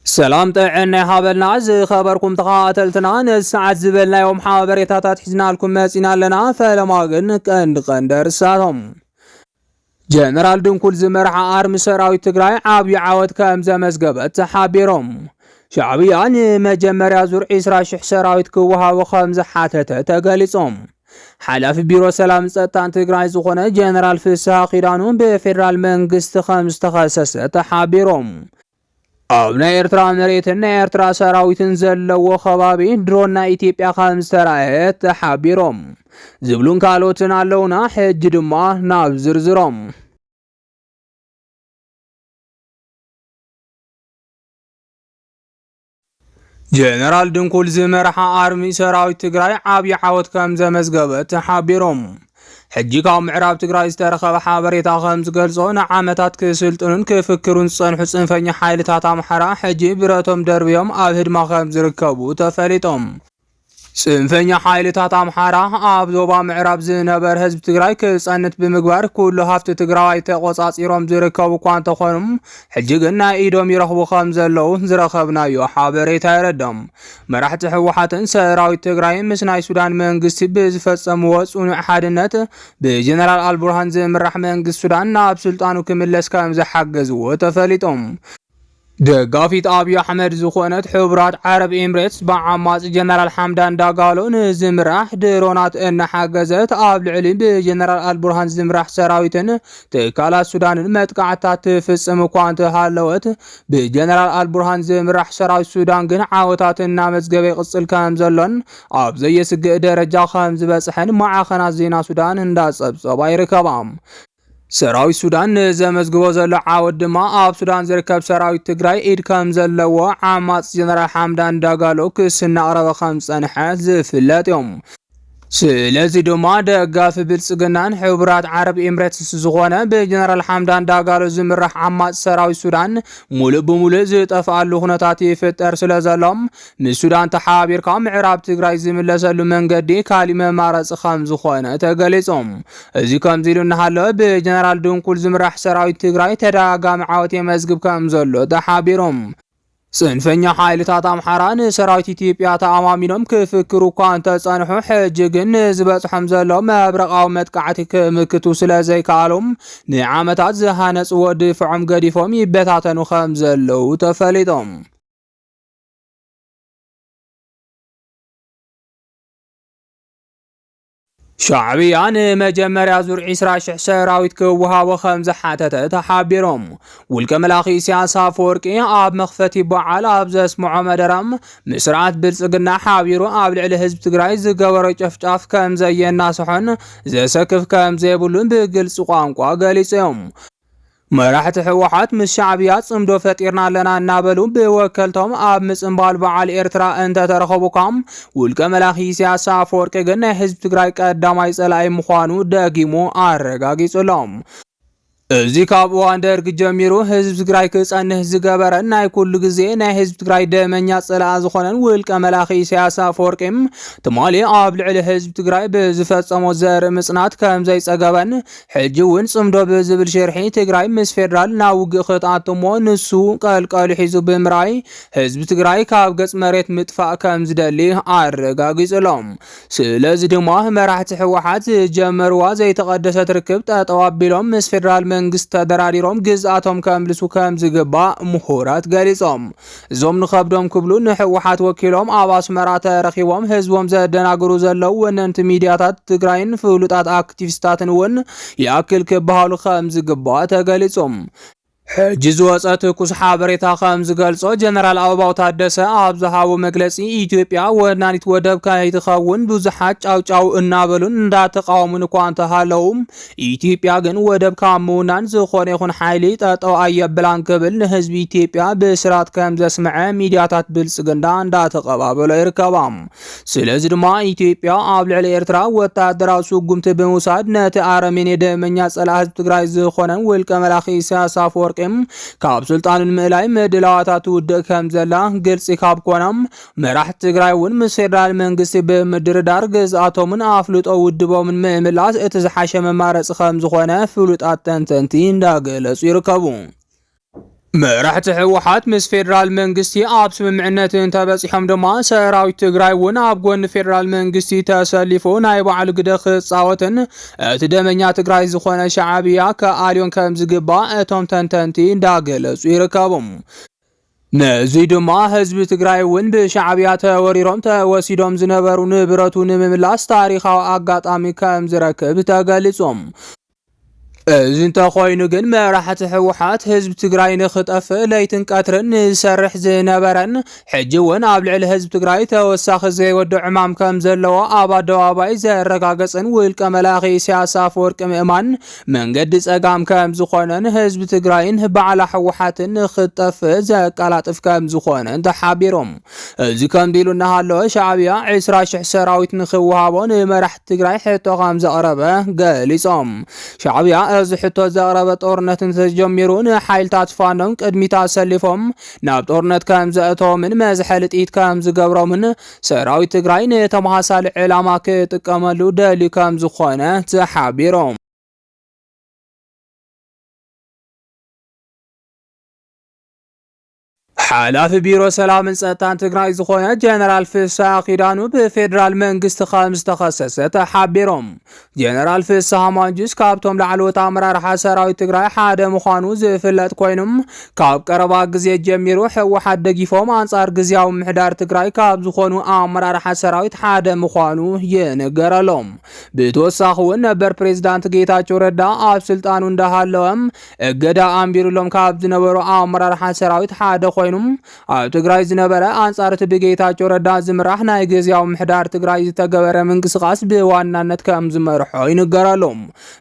ሰላም ጥዕና ይሃበልና ዝኸበርኩም ተኸታተልትና ነዚ ሰዓት ዝበልናዮም ሓበሬታታት ሒዝናልኩም መጺና ኣለና። ፈለማ ግን ቀንዲ ቀንዲ ኣርእስታቶም ጀነራል ድንኩል ዝመርሓ ኣርሚ ሰራዊት ትግራይ ዓብዪ ዓወት ከም ዘመዝገበት ተሓቢሮም ሻዕብያ ንመጀመርያ ዙር 20 ሽሕ ሰራዊት ክወሃቦ ከም ዝሓተተ ተገሊጾም ሓላፊ ቢሮ ሰላም ጸጥታን ትግራይ ዝኾነ ጀነራል ፍስሃ ኪዳኑ ብፌዴራል መንግስቲ ከም ዝተኸሰሰ ተሓቢሮም ኣብ ናይ ኤርትራ መሬትን ናይ ኤርትራ ሰራዊትን ዘለዎ ከባቢ ድሮን ናይ ኢትዮጵያ ከም ዝተራእየት ተሓቢሮም ዝብሉን ካልኦትን ኣለውና። ሕጂ ድማ ናብ ዝርዝሮም ጀነራል ድንኩል ዝመርሓ ኣርሚ ሰራዊት ትግራይ ዓብዪ ዓወት ከም ዘመዝገበ ተሓቢሮም ሕጂ ካብ ምዕራብ ትግራይ ዝተረኸበ ሓበሬታ ከም ዝገልጾ ንዓመታት ክስልጥኑን ክፍክሩን ዝጸንሑ ጽንፈኛ ሓይልታት ኣምሓራ ሕጂ ብረቶም ደርብዮም ኣብ ህድማ ከም ዝርከቡ ተፈሊጦም። ፅንፈኛ ሓይልታት ኣምሓራ ኣብ ዞባ ምዕራብ ዝነበር ህዝቢ ትግራይ ክፀንት ብምግባር ኩሉ ሃፍቲ ትግራዋይ ተቆፃፂሮም ዝርከቡ እኳ እንተኾኑ ሕጂ ግን ናይ ኢዶም ይረኽቡ ከም ዘለዉ ዝረኸብናዮ ሓበሬታ የረዶም። መራሕቲ ህወሓትን ሰራዊት ትግራይ ምስ ናይ ሱዳን መንግስቲ ብዝፈፀምዎ ፅኑዕ ሓድነት ብጀነራል ኣልቡርሃን ዝምራሕ መንግስቲ ሱዳን ናብ ስልጣኑ ክምለስ ከም ዝሓገዝዎ ተፈሊጦም። ደጋፊት ኣብዪ ኣሕመድ ዝኾነት ሕቡራት ዓረብ ኤምሬትስ ብዓማጺ ጀነራል ሓምዳን ዳጋሎ ንዝምራሕ ድሮናት እናሓገዘት ኣብ ልዕሊ ብጀነራል ኣልቡርሃን ዝምራሕ ሰራዊትን ትካላት ሱዳንን መጥቃዕትታት ትፍጽም እኳ እንተሃለወት ብጀነራል ኣልቡርሃን ዝምራሕ ሰራዊት ሱዳን ግን ዓወታት እናመዝገበ ይቕጽል ከም ዘሎን ኣብ ዘየስግእ ደረጃ ከም ዝበጽሐን ማዕኸናት ዜና ሱዳን እንዳጸብጸባ ይርከባ። ሰራዊት ሱዳን ንዘመዝግቦ ዘሎ ዓወት ድማ ኣብ ሱዳን ዝርከብ ሰራዊት ትግራይ ኢድ ከም ዘለዎ ዓማፅ ጀነራል ሓምዳን ዳጋሎ ክስ እናቕረበ ከም ዝፀንሐ ዝፍለጥ እዮም። ስለዚ ድማ ደጋፊ ብልጽግናን ሕቡራት ዓረብ ኤምሬትስ ዝኾነ ብጀነራል ሓምዳን ዳጋሎ ዝምራሕ ዓማፅ ሰራዊት ሱዳን ሙሉእ ብሙሉእ ዝጠፍኣሉ ኩነታት ይፍጠር ስለ ዘሎም ምስ ሱዳን ተሓባቢርካ ምዕራብ ትግራይ ዝምለሰሉ መንገዲ ካሊእ መማረፂ ከምዝኾነ ተገሊፁ። እዚ ከምዚ ኢሉ እናሃለ ብጀነራል ድንኩል ዝምራሕ ሰራዊት ትግራይ ተደጋጋሚ ዓወት የመዝግብ ከምዘሎ ተሓቢሩ። ፅንፈኛ ሓይልታት ኣምሓራ ንሰራዊት ኢትዮጵያ ተኣማሚኖም ክፍክሩ እኳ እንተፀንሑ ሕጂ ግን ንዝበፅሖም ዘሎ መብረቓዊ መጥቃዕቲ ክምክቱ ስለዘይከኣሎም ንዓመታት ዝሃነፅዎ ድፍዖም ገዲፎም ይበታተኑ ከምዘለዉ ተፈሊጦም። ሻዕብያ ንመጀመርያ ዙር 20 ሽሕ ሰራዊት ክወሃቦ ከም ዝሓተተ ተሓቢሮም ውልቀ መላኺ ኢሳያስ ኣፈወርቂ ኣብ መኽፈቲ በዓል ኣብ ዘስምዖ መደረ ምስርዓት ብልጽግና ሓቢሩ ኣብ ልዕሊ ህዝቢ ትግራይ ዝገበሮ ጨፍጫፍ ከም ዘየናስሖን ዘሰክፍ ከም ዘይብሉን ብግልፂ ቋንቋ ገሊፆም። መራሕቲ ህወሓት ምስ ሻዕብያ ፅምዶ ፈጢርና ኣለና እናበሉ ብወከልቶም ኣብ ምፅምባል በዓል ኤርትራ እንተተረኸቡካ ውልቀ መላኺ ኢሳያስ ኣፈወርቂ ግን ናይ ህዝቢ ትግራይ ቀዳማይ ፀላኢ ምዃኑ ደጊሙ ኣረጋጊጹሎም። እዚ ካብ እዋን ደርጊ ጀሚሩ ህዝቢ ትግራይ ክጸንህ ዝገበረን ናይ ኩሉ ግዜ ናይ ህዝቢ ትግራይ ደመኛ ጸላኣ ዝኾነን ውልቀ መላኺ ኢሳያስ ኣፈወርቂ ትማሊ ኣብ ልዕሊ ህዝቢ ትግራይ ብዝፈጸሞ ዘርኢ ምጽናት ከም ዘይጸገበን ሕጂ እውን ጽምዶ ብዝብል ሽርሒ ትግራይ ምስ ፌደራል ናብ ውግእ ክትኣቱ እሞ ንሱ ቀልቀሉ ሒዙ ብምርኣይ ህዝቢ ትግራይ ካብ ገጽ መሬት ምጥፋእ ከም ዝደሊ ኣረጋጊጹሎም። ስለዚ ድማ መራሕቲ ህወሓት ዝጀመርዋ ዘይተቐደሰት ርክብ ጠጠው ኣቢሎም ምስ ፌደራል መንግስቲ ተደራዲሮም ግዝኣቶም ከምልሱ ከም ዝግባእ ምሁራት ገሊጾም። እዞም ንኸብዶም ክብሉ ንሕወሓት ወኪሎም ኣብ ኣስመራ ተረኺቦም ህዝቦም ዘደናግሩ ዘለዉ ወነንቲ ሚድያታት ትግራይን ፍሉጣት ኣክቲቪስታትን እውን ይኣክል ክበሃሉ ከም ዝግባእ ተገሊጹ። ሕጂ ዝወጸ ትኩስ ሓበሬታ ከም ዝገልጾ ጀነራል ኣበባው ታደሰ ኣብ ዝሃቦ መግለጺ ኢትዮጵያ ወናኒት ወደብ ከይትኸውን ብዙሓት ጫውጫው እናበሉን እንዳተቃወሙን እኳ እንተሃለዉ ኢትዮጵያ ግን ወደብ ካብ ምውናን ዝኾነ ይኹን ሓይሊ ጠጠው ኣየብላን ክብል ንህዝቢ ኢትዮጵያ ብስራት ከም ዘስምዐ ሚዲያታት ብልፅግና እንዳተቐባበሎ ይርከባ። ስለዚ ድማ ኢትዮጵያ ኣብ ልዕሊ ኤርትራ ወታደራዊ ስጉምቲ ብምውሳድ ነቲ ኣረሜኔ ደመኛ ጸላእ ህዝቢ ትግራይ ዝኾነ ውልቀ መላኺ ኢሳያስ ኣፈወርቂ ካብ ስልጣኑ ንምእላይ ምድላዋታ ትውድእ ከም ዘላ ግልፂ ካብ ኮነ መራሕቲ ትግራይ እውን ምስ ፌደራል መንግስቲ ብምድርዳር ግዝኣቶምን ኣፍልጦ ውድቦምን ምምላስ እቲ ዝሓሸ መማረፂ ከም ዝኾነ ፍሉጣት ተንተንቲ እንዳገለፁ ይርከቡ። መራሕቲ ህወሓት ምስ ፌደራል መንግስቲ ኣብ ስምምዕነት እንተበፂሖም ድማ ሰራዊት ትግራይ እውን ኣብ ጎኒ ፌደራል መንግስቲ ተሰሊፉ ናይ ባዕሉ ግደ ክፃወትን እቲ ደመኛ ትግራይ ዝኾነ ሸዓብያ ከኣልዮን ከም ዝግባእ እቶም ተንተንቲ እንዳገለፁ ይርከቡ። ንእዙይ ድማ ህዝቢ ትግራይ እውን ብሻዕብያ ተወሪሮም ተወሲዶም ዝነበሩ ንብረቱ ንምምላስ ታሪኻዊ ኣጋጣሚ ከም ዝረክብ ተገሊጹም። እዚ እንተኾይኑ ግን መራሕቲ ህወሓት ህዝቢ ትግራይ ንክጠፍእ ለይትን ቀትርን ንዝሰርሕ ዝነበረን ሕጂ እውን ኣብ ልዕሊ ህዝቢ ትግራይ ተወሳኺ ዘይወዶ ዕማም ከም ዘለዎ ኣብ ኣደባባይ ዘረጋገጽን ውልቀ መላኺ ኢሳያስ ኣፈወርቂ ምእማን መንገዲ ፀጋም ከምዝኾነን ህዝቢ ትግራይን ባዕላ ህወሓትን ንክትጠፍእ ዘቀላጥፍ ከምዝኾነን ተሓቢሮም። እዚ ከምዚ ኢሉ እናሃለወ ሻዕቢያ ዕስራ ሽሕ ሰራዊት ንክወሃቦ ንመራሕቲ ትግራይ ሕቶ ከምዘቕረበ ገሊፆም። ሻዕቢያ እዚ ሕቶ ዘቕረበ ጦርነት እንተጀሚሩ ንሓይልታት ፋኖም ቅድሚት ኣሰሊፎም ናብ ጦርነት ከምዘእተዎምን መዝሐሊ ጥይት ከምዝገብሮምን ሰራዊት ትግራይ ንተመሳሳሊ ዕላማ ክጥቀመሉ ደልዩ ከም ዝኾነ ተሓቢሮም። ሓላፊ ቢሮ ሰላምን ጸጥታን ትግራይ ዝኾነ ጀነራል ፍሳ ኪዳኑ ብፌዴራል መንግስቲ ከም ዝተኸሰሰ ተሓቢሮም። ጀነራል ፍስሃ ማንጁስ ካብቶም ላዕለዎት ኣመራርሓ ሰራዊት ትግራይ ሓደ ምዃኑ ዝፍለጥ ኮይኑ ካብ ቀረባ ግዜ ጀሚሩ ህወሓት ደጊፎም ኣንጻር ግዜያዊ ምሕዳር ትግራይ ካብ ዝኾኑ ኣመራርሓ ሰራዊት ሓደ ምዃኑ ይንገረሎም። ብተወሳኺ እውን ነበር ፕሬዚዳንት ጌታቸው ረዳ ኣብ ስልጣኑ እንዳሃለወ እገዳ ኣንቢሩሎም ካብ ዝነበሩ ኣመራርሓ ሰራዊት ሓደ ኮይኑ ኣብ ትግራይ ዝነበረ ኣንጻር እቲ ብጌታቸው ረዳ ዝምራሕ ናይ ግዝያዊ ምሕዳር ትግራይ ዝተገበረ ምንቅስቓስ ብዋናነት ከም ዝመርሖ ይንገረሉ።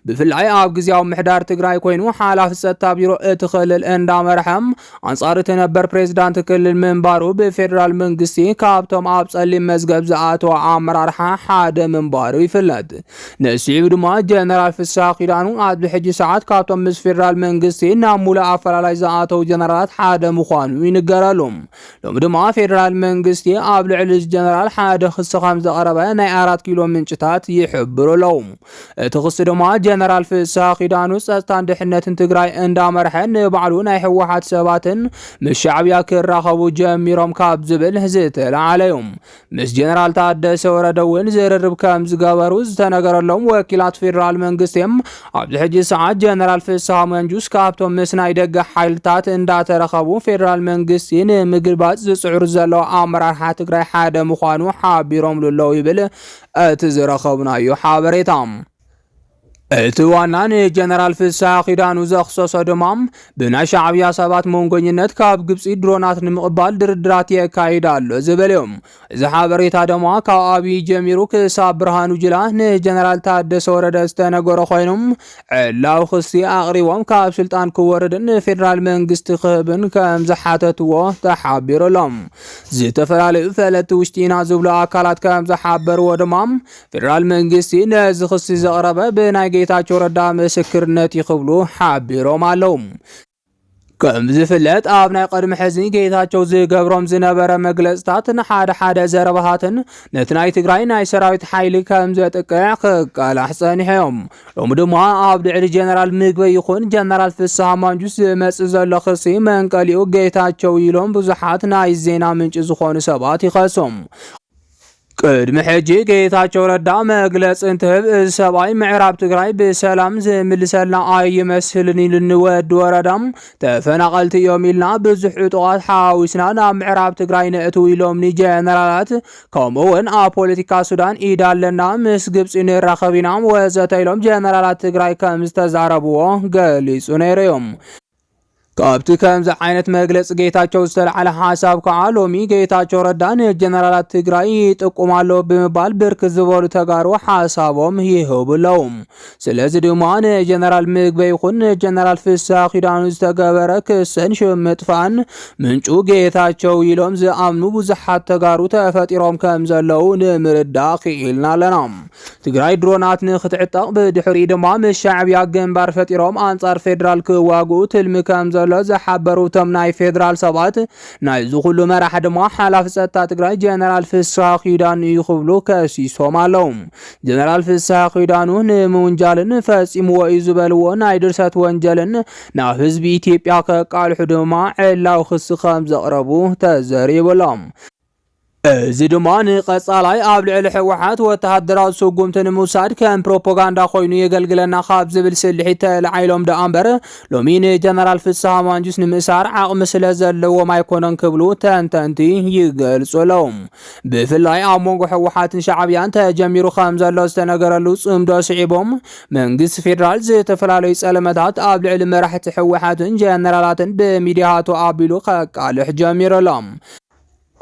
ብፍላይ ኣብ ግዝያዊ ምሕዳር ትግራይ ኮይኑ ሓላፊ ጸጥታ ቢሮ እቲ ክልል እንዳመርሐ ኣንጻር እቲ ነበር ፕሬዝዳንት ክልል ምንባሩ ብፌዴራል መንግስቲ ካብቶም ኣብ ጸሊም መዝገብ ዝኣተወ ኣመራርሓ ሓደ ምንባሩ ይፍለጥ። ንስዒቡ ድማ ጀነራል ፍስሃ ኪዳኑ ኣብዚ ሕጂ ሰዓት ካብቶም ምስ ፌደራል መንግስቲ ናብ ሙሉእ ኣፈላላይ ዝኣተው ጀነራላት ሓደ ምዃኑ ይንገረሉ። ሎሚ ድማ ፌደራል መንግስቲ ኣብ ልዕሊ እዚ ጀነራል ሓደ ክሲ ከምዘቕረበ ናይ ኣራት ኪሎ ምንጭታት ይሕብሩ ኣለው። እቲ ክሲ ድማ ጀነራል ፍስሃ ኪዳኑ ጸጥታን ድሕነትን ትግራይ እንዳመርሐ ንባዕሉ ናይ ህወሓት ሰባትን ምስ ሻዕብያ ክራኸቡ ጀሚሮም ካብ ዝብል ዝተላዓለ እዩ። ምስ ጀነራል ታደሰ ወረደ እውን ዝርርብ ከም ዝገበሩ ዝተነገረሎም ወኪላት ፌዴራል መንግስቲ ኣብዚ ሕጂ ሰዓት ጀነራል ፍስሃ መንጁስ ካብቶም ምስ ናይ ደገ ሓይልታት እንዳተረኸቡ ፌዴራል መንግስቲ ንምግልባጥ ዝፅዕሩ ዘለዉ ኣመራርሓ ትግራይ ሓደ ምዃኑ ሓቢሮምሉ ኣለዉ ይብል እቲ ዝረኸብናዮ ሓበሬታ። እቲ ዋና ንጀነራል ፍስሓ ኪዳኑ ዘኽሰሶ ድማ ብናይ ሻዕብያ ሰባት መንጎኝነት ካብ ግብፂ ድሮናት ንምቕባል ድርድራት የካይድ ኣሎ ዝብል እዩ። እዚ ሓበሬታ ድማ ካብ ኣብዪ ጀሚሩ ክሳብ ብርሃኑ ጅላ ንጀነራል ታደሰ ወረደ ዝተነገሮ ኮይኑ ዕላዊ ክሲ ኣቕሪቦም ካብ ስልጣን ክወርድን ንፌዴራል መንግስቲ ክህብን ከም ዝሓተትዎ ተሓቢሩ ኣሎ። ዝተፈላለዩ ፈለጥቲ ውሽጢ ኢና ዝብሉ ኣካላት ከም ዝሓበርዎ ድማ ፌደራል መንግስቲ ነዚ ክሲ ዘቕረበ ብናይ ጌታቸው ረዳ ምስክርነት እዩ ክብሉ ሓቢሮም ኣለዉ። ከም ዝፍለጥ ኣብ ናይ ቅድሚ ሕዚ ጌታቸው ዝገብሮም ዝነበረ መግለፅታት ንሓደ ሓደ ዘረባታትን ነቲ ናይ ትግራይ ናይ ሰራዊት ሓይሊ ከም ዘጥቅዕ ክቃላሕ ጸኒሖም ሎሚ ድማ ኣብ ልዕሊ ጀነራል ምግበ ይኹን ጀነራል ፍስሃ ማንጁስ ዝመጽእ ዘሎ ክሲ መንቀሊኡ ጌታቸው ኢሎም ብዙሓት ናይ ዜና ምንጪ ዝኾኑ ሰባት ይኸሶም ቅድሚ ሕጂ ጌታቸው ረዳ መግለፂ እንትህብ እዚ ሰብኣይ ምዕራብ ትግራይ ብሰላም ዝምልሰልና ኣይመስልን ኢሉኒ ወዲ ወረዳ ተፈናቐልቲ እዮም ኢልና ብዙሕ ዕጡቓት ሓዊስና ናብ ምዕራብ ትግራይ ነእትው ኢሎምኒ ጀነራላት ከምኡ እውን ኣብ ፖለቲካ ሱዳን ኢድ ኣለና ምስ ግብፂ ንራኸብ ኢና ወዘተ ኢሎም ጀነራላት ትግራይ ከም ዝተዛረብዎ ገሊፁ ነይሩ እዮም ካብቲ ከምዚ ዓይነት መግለፂ ጌታቸው ዝተልዓለ ሓሳብ ከዓ ሎሚ ጌታቸው ረዳ ንጀነራላት ትግራይ ይጥቁም ኣሎ ብምባል ብርክት ዝበሉ ተጋሩ ሓሳቦም ይህቡ ኣለዉ። ስለዚ ድማ ንጀነራል ምግበ ይኹን ንጀነራል ፍስሐ ኪዳኑ ዝተገበረ ክስን ሽም ምጥፋእን ምንጩ ጌታቸው ኢሎም ዝኣምኑ ብዙሓት ተጋሩ ተፈጢሮም ከም ዘለዉ ንምርዳእ ክኢልና ኣለና። ትግራይ ድሮናት ንክትዕጠቕ ብድሕሪኡ ድማ ምስ ሻዕብያ ግንባር ፈጢሮም ኣንጻር ፌዴራል ክዋግኡ ትልሚ ከም ዘሎ ዝሓበሩ እቶም ናይ ፌዴራል ሰባት ናይ እዚ ኩሉ መራሒ ድማ ሓላፊ ጸጥታ ትግራይ ጀነራል ፍስሃ ኪዳኑ እዩ ክብሉ ከሲሶም ኣለው። ጀነራል ፍስሃ ኪዳኑ ንምውንጃልን ፈጺምዎ እዩ ዝበልዎ ናይ ድርሰት ወንጀልን ናብ ህዝቢ ኢትዮጵያ ከቃልሑ ድማ ዕላዊ ክሲ ከም ዘቕረቡ ተዘሪቡ ኣሎ። እዚ ድማ ንቐጻላይ ኣብ ልዕሊ ህወሓት ወተሃደራዊ ስጉምቲ ንምውሳድ ከም ፕሮፓጋንዳ ኮይኑ የገልግለና ካብ ዝብል ስልሒት ተላዒሎም ደኣ እምበር ሎሚ ንጀነራል ፍስሃ ማንጁስ ንምእሳር ዓቕሚ ስለ ዘለዎም ኣይኮነን ክብሉ ተንተንቲ ይገልጹ ኣለዉ። ብፍላይ ኣብ መንጎ ህወሓትን ሻዕብያን ተጀሚሩ ከም ዘሎ ዝተነገረሉ ጽምዶ ስዒቦም መንግስቲ ፌዴራል ዝተፈላለዩ ጸለመታት ኣብ ልዕሊ መራሕቲ ህወሓትን ጀነራላትን ብሚዲያቱ ኣቢሉ ከቃልሕ ጀሚሩ ኣሎ።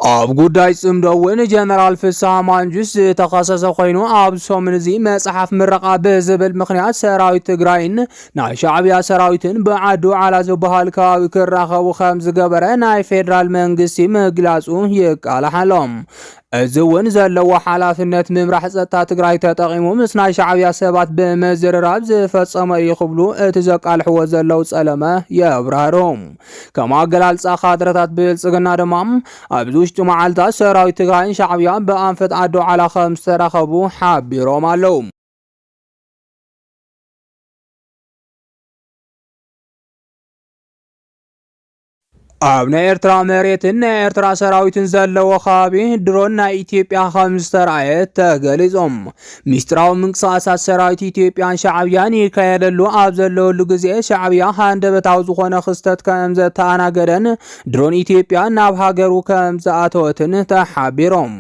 ኣብ ጉዳይ ጽምዶ እውን ጀነራል ፍስሃ ማንጁስ ዝተኸሰሰ ኮይኑ ኣብ ሰሙን እዚ መጽሓፍ ምረቓ ብዝብል ምክንያት ሰራዊት ትግራይን ናይ ሻዕብያ ሰራዊትን ብዓዲ ውዓላ ዝበሃል ከባቢ ክራኸቡ ከም ዝገበረ ናይ ፌዴራል መንግስቲ ምግላጹ ይቃላሕ ኣሎ። እዚ እውን ዘለዎ ሓላፍነት ምምራሕ ጸጥታ ትግራይ ተጠቒሙ ምስ ናይ ሻዕብያ ሰባት ብምዝርራብ ዝፈጸመ እዩ ክብሉ እቲ ዘቃልሕዎ ዘለው ጸለመ የብራህሮም። ከም ኣገላልፃ ካድረታት ብልፅግና ድማ ኣብዚ ውሽጢ መዓልታት ሰራዊት ትግራይን ሻዕብያ ብኣንፈት ዓዲ ዓላ ከም ዝተራኸቡ ሓቢሮም ኣለው። ኣብ ናይ ኤርትራ መሬትን ናይ ኤርትራ ሰራዊትን ዘለዎ ከባቢ ድሮን ናይ ኢትዮጵያ ከም ዝተረኣየ ተገሊጾም ሚስጥራዊ ምንቅስቓሳት ሰራዊት ኢትዮጵያን ሻዕብያን ይካየደሉ ኣብ ዘለወሉ ግዜ ሻዕብያ ሃንደበታዊ ዝኾነ ክስተት ከም ዘተኣናገደን ድሮን ኢትዮጵያ ናብ ሃገሩ ከም ዝኣተወትን ተሓቢሮም።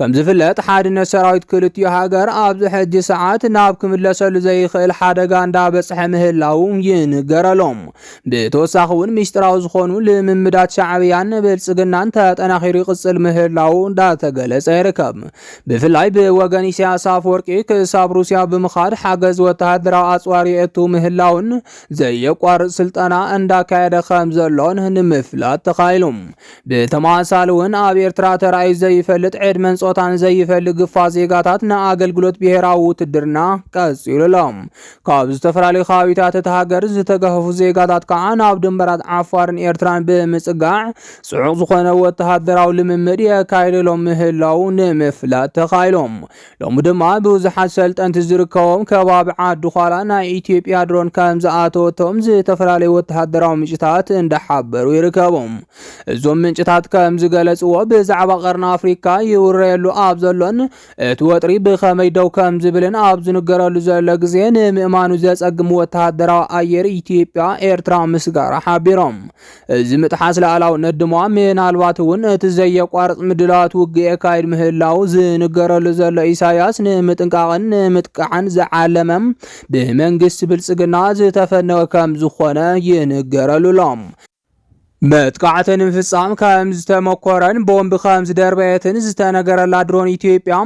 ከም ዝፍለጥ ሓድነት ሰራዊት ክልቲኡ ሃገር ኣብዚ ሕጂ ሰዓት ናብ ክምለሰሉ ዘይኽእል ሓደጋ እንዳበጽሐ ምህላው ይንገረሎም። ብተወሳኺ እውን ሚስጥራዊ ዝኾኑ ልምምዳት ሻዕብያን ብልጽግናን ተጠናኺሩ ይቕጽል ምህላው እንዳተገለጸ ይርከብ። ብፍላይ ብወገን ኢሳያስ ኣፈወርቂ ክሳብ ሩስያ ብምኻድ ሓገዝ ወተሃደራዊ ኣጽዋር የእቱ ምህላውን ዘየቋርጽ ስልጠና እንዳካየደ ከም ዘሎን ንምፍላጥ ተኻኢሉ። ብተመሳሳሊ እውን ኣብ ኤርትራ ተራእዩ ዘይፈልጥ ዕድመን ጾታን ዘይፈሊ ግፋ ዜጋታት ንኣገልግሎት ብሄራዊ ውትድርና ቀጺሉ ኣሎ። ካብ ዝተፈላለዩ ከባቢታት እታ ሃገር ዝተገፈፉ ዜጋታት ከኣ ናብ ድንበራት ዓፋርን ኤርትራን ብምጽጋዕ ጽዑቕ ዝኾነ ወተሃደራዊ ልምምድ የካይደሎም ምህላዉ ንምፍላጥ ተኻኢሎም። ሎሚ ድማ ብዙሓት ሰልጠንቲ ዝርከቦም ከባቢ ዓዲ ዃላ ናይ ኢትዮጵያ ድሮን ከም ዝኣተወቶም ዝተፈላለዩ ወተሃደራዊ ምንጭታት እንዳሓበሩ ይርከቦም። እዞም ምንጭታት ከም ዝገለጽዎ ብዛዕባ ቀርኒ ኣፍሪካ ይውረየሉ ኣብ ዘሎን እቲ ወጥሪ ብኸመይ ደው ከም ዝብልን ኣብ ዝንገረሉ ዘሎ ግዜ ንምእማኑ ዘጸግም ወተሃደራዊ ኣየር ኢትዮጵያ ኤርትራ ምስጋራ ሓቢሮም። እዚ ምጥሓስ ላእላውነት ድማ ምናልባት እውን እቲ ዘየቋርጽ ምድላዋት ውግእ የካይድ ምህላው ዝንገረሉ ዘሎ ኢሳያስ ንምጥንቃቕን ንምጥቃዕን ዝዓለመ ብመንግስቲ ብልጽግና ዝተፈነወ ከም ዝኾነ ይንገረሉ ኣሎ። መጥቃዕቲ ንምፍፃም ከምዝተመኮረን ቦምብ ከምዝደርበየትን ዝተነገረላ ድሮን ኢትዮጵያ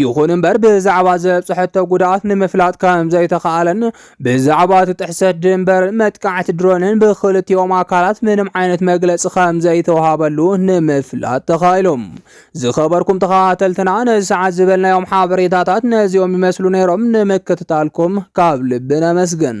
ይኹን እምበር ብዛዕባ ዘብፅሐቶ ጉድኣት ንምፍላጥ ከምዘይተኸኣለን ብዛዕባ እቲ ጥሕሰት ድንበርን መጥቃዕቲ ድሮንን ብክልቲኦም ኣካላት ምንም ዓይነት መግለፂ ከምዘይተዋሃበሉ ንምፍላጥ ተኻኢሎም ዝኸበርኩም ተኸታተልትና ነዚ ሰዓት ዝበልናዮም ሓበሬታታት ነዚኦም ይመስሉ ነይሮም ንምክትታልኩም ካብ ልቢ ነመስግን